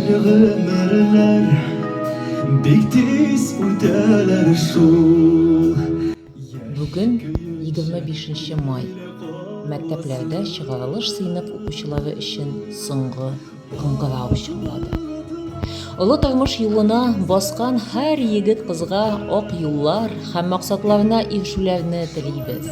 Гомерләр бик тиз үтәләр шул. Бүген 25 нче май. Мәктәпләрдә чыгарылыш сыйныф укучылары өчен соңгы кыңгырау чыңлады. Олы тормыш юлына баскан һәр егет-кызга ак юллар һәм максатларына ирешүләрне телибез.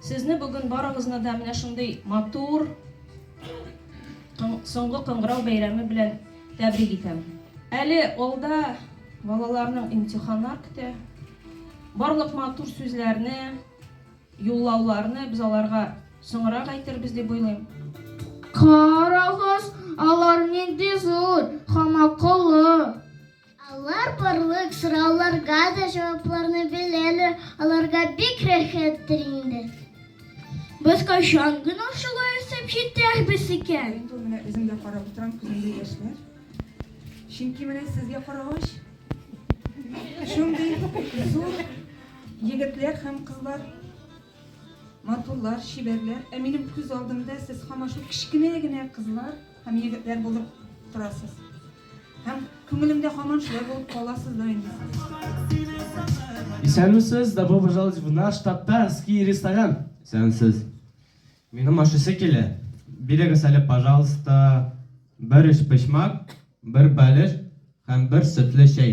Сезне бүген барыгызны да менә шундый матур соңгы кыңгырау бәйрәме белән тәбрик итәм. Әле алда балаларның имтиханнар көтә. Барлык матур сүзләрне, юллауларны без аларга соңрак әйтербез дип уйлыйм. Карагыз, алар нинди зур һәм акыллы! Алар барлык сорауларга да җавапларны беләләр, аларга бик рәхәттер инде. Без кайчан гына шулай үсеп җитәрбез икән? Мин бу менә үзем дә карап утырам, күземдә яшьләр. Чөнки менә сезгә карагач, шундый зур егетләр һәм кызлар матурлар, чибәрләр, ә минем күз алдымда сез һаман шул кечкенә генә кызлар һәм егетләр булып торасыз. Һәм күңелемдә һаман шулай булып кала сездә инде. Исәнмесез, добро пожаловать в наш татарский ресторан. Исәнмесез. Минем ашыйсы килә. Бирегез әле, пожалуйста, бер өчпочмак, бер бәлеш һәм бер сөтле чәй.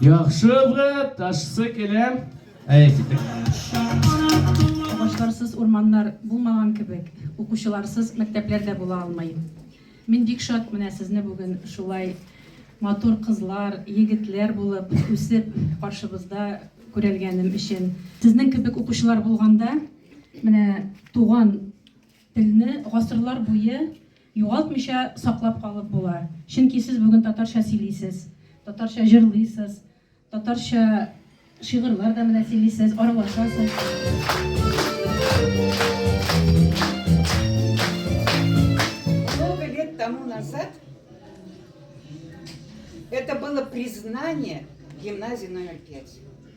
Яхшы, брат, ташсы килә. Әйе, китик. Агачларсыз урманнар булмаган кебек, укучыларсыз мәктәпләр дә була алмый. Мин бик шат менә сезне бүген шулай матур кызлар, егетләр булып үсеп каршыбызда күрәлгәнем өчен. Сезнең кебек укучылар булганда, менә туган Телне гасырлар буе югалтмыйча саклап калып була, чөнки сез бүген татарча сөйлисез, татарча җырлыйсыз, татарча шигырьләр дә менә сөйлисез, аралашасыз. Много лет тому назад это было признание гимназии номер пять.